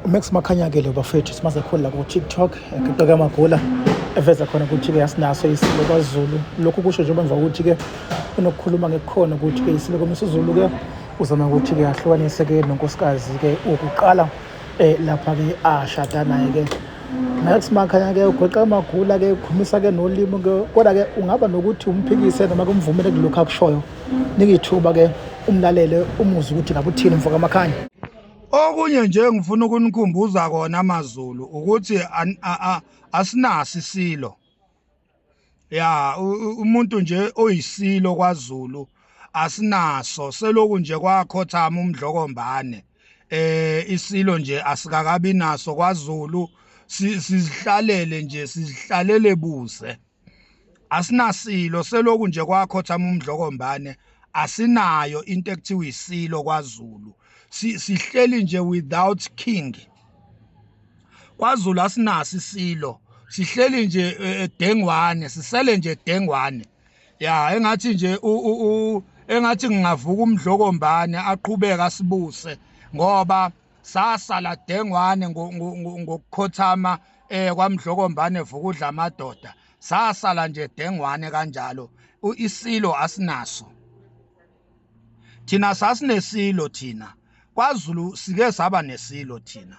umax makhanya-ke lo bafethu simaze khulu la ku-tiktok eqoke amagula eveza khona ukuthi-ke asinaso isilo kwazulu lokhu kusho njengoba emva kokuthi-ke unokukhuluma ngekukhona ukuthi-ke isilo komsizulu-ke uzama ukuthi-ke ahlukanise-ke nonkosikazi-ke ukuqala um eh, lapha-ke ashada naye-ke Max Makhanya ke ugoqa amagula ke ukhumisa ke nolimi ke kodwa ke ungaba nokuthi umphikise noma kumvumele kulokho akushoyo nikithuba ke umlalele umuzi ukuthi ngakuthini mfoka Makhanya Okunye nje engifuna ukunikhumbuza kona amaZulu ukuthi asinasi isilo. Ya umuntu nje oyisilo kwaZulu asinaso seloku nje kwakhothama umdlokombane. Eh isilo nje asikakabi naso kwaZulu sizihlalele nje sizihlalele buze. asinasilo seloku nje kwakho thama umdlokombane asinayo into ekuthiwa isilo kwaZulu sihleli nje without king kwaZulu asinasi isilo sihleli nje e, e, dengwane sisele nje dengwane ya engathi nje engathi ngingavuka umdlokombane aqhubeka sibuse ngoba sasala dengwane ngokukhothama eh kwamdlokombane vukudla amadoda sasala nje dengwane kanjalo isilo asinaso thina sasinesilo thina kwaZulu sike saba nesilo thina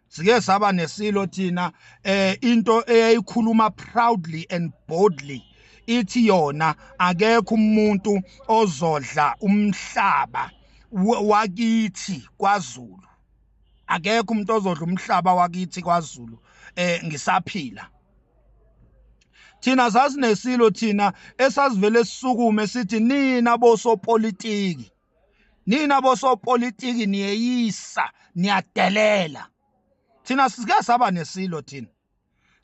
sike saba nesilo thina eh into eyayikhuluma proudly and boldly ithi yona akekho umuntu ozodla umhlaba wakithi kwaZulu akekho umuntu ozodla umhlaba wakithi kwaZulu eh ngisaphila thina sasinesilo thina esasivele sisukume sithi nina bosopolitiki nina bosopolitiki niyeyisa niyadelela thina sike saba nesilo thina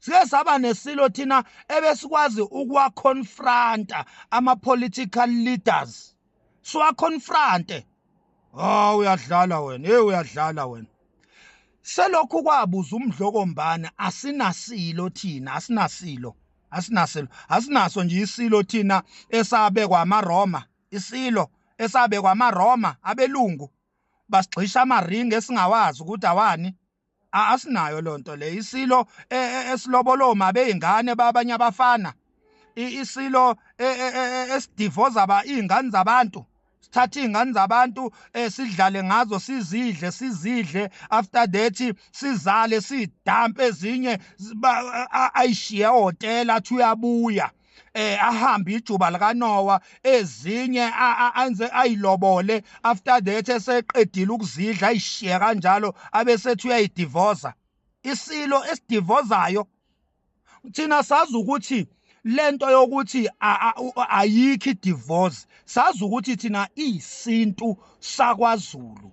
siye saba nesilo thina ebesikwazi ukuwaconfronta ama-political leaders siwaconfronte hawu uyadlala wena hey uyadlala wena selokhu kwabuza umdlokombane asinasilo thina asinasilo asinasilo asinaso nje isilo thina esabekwa amaroma isilo esabekwa amaroma abelungu basigxisha amaringi esingawazi ukuthi awani asinayo lonto le isilo e, e, esilobolo mabe ingane babanye abafana isilo e, esidivoza ba ingane zabantu sithathe izingane zabantu esidlale eh, ngazo sizidle sizidle after that sizale sidampe ezinye ayishiye hotela athi uyabuya eh ahambe ijuba likaNowa ezinye anze ayilobole after that eseqedile ukuzidla ayishiye kanjalo abesethi uyayidivoza isilo esidivozayo thina sazi ukuthi lento yokuthi ayikho idivorce sazi ukuthi thina iyisintu sakwaZulu